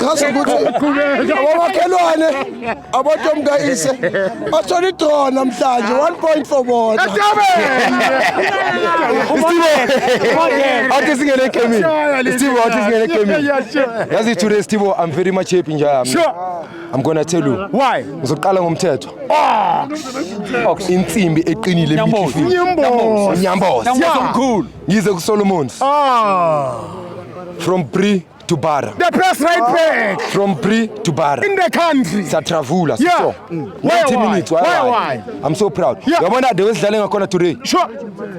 chaza ukuthi abomakhelwane abantu omkayise bathola idrone namhlanje 1.4 bona Athi singene egamini. Steve athi singene egamini. Yazi today Steve I'm very much happy njalo. I'm gonna tell you. Why? Ngizoqala ngomthetho. Ox. Insimbi eqinile Nyamboza. emikhifini. Nyamboza. Nyamboza. Nyamboza mkhulu. Ngize ku Solomons. Ah. From Bree to Bara. The best right ah. back. From Bree to Bara. In the country. Satravula. Yeah. So, mm. why, 90 why? minutes. Why, why? why? I'm so proud. Yeah. Yabona de wesidlale ngakhona today. Sure.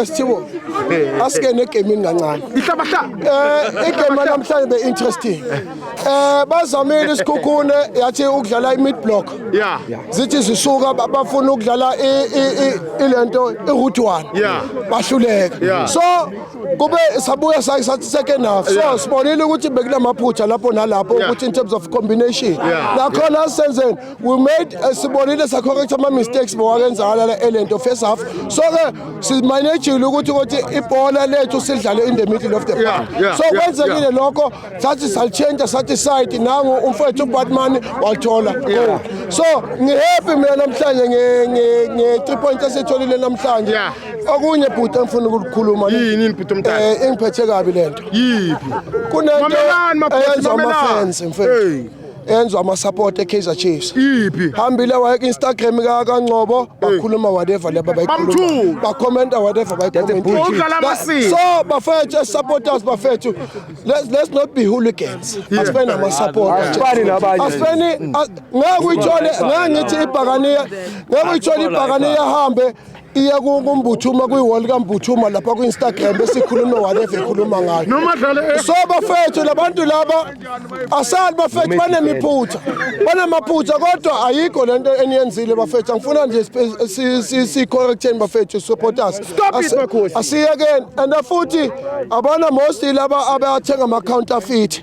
esithibo asikene egemini kancane um igame lanamhlanje be-interesting um bazamile isikhukhune yathi ukudlala i-mid block zithi zisuka bafuna ukudlala ile nto i-root one bahluleka so kube sabuya sathi second half so sibonile ukuthi bekunamaphutha lapho nalapho ukuthi in terms of combination nakhona senzeni we made eh, sibonile sacorrect ama-mistakes bowakenzakala la elento first half so ke simanejile ukuthi ukuthi ibhola lethu sidlale in the middle of the park so kwenzekile lokho sathi salichenta sathi side nangu umfowethu ubatman walithola so ngihappy mina namhlanje nge-three point esiyitholile namhlanje okunye bhuti engifuna ukulikhuluma yini bhuti omdala eh, engiphethe kabi lento yiphi kunento eyenza ama-fans mfethu enzwa ama support eKaizer Chiefs iphi hambile waye Instagram ka kaNgcobo bakhuluma whatever laba bayikhuluma ba comment whatever ba comment so bafethu supporters bafethu let's let's not be hooligans asifeni ama supporters asifani nabanye asifeni ngeke uyithole ngeke ngithi ibhakaniya ngeke uyithole ibhakaniya hambe iya kumbuthuma kwi-wall kambuthuma lapha kwi-instagram esikhulume whatever ekhuluma ngayo eh. so bafethu labantu laba asali bafethu banemiphutha banamaphutha kodwa ayikho le nto eniyenzile bafethu angifuna nje siyi-correcteni bafethu supporters asiyekeni and futhi abana mostly laba abathenga ama-counterfeit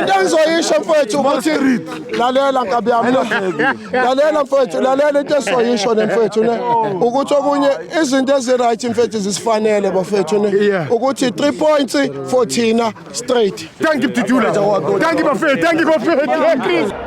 into engizoyisho mfowethu ukuthi lalela nkabi yami lalela mfowethu lalela into esizoyisho ne mfowethu ne ukuthi okunye izinto ezi-right mfowethu zisifanele bafowethu ne ukuthi three points for thina straight Thank you, Titula. Thank you, Buffet. Thank you, Buffet. Thank you.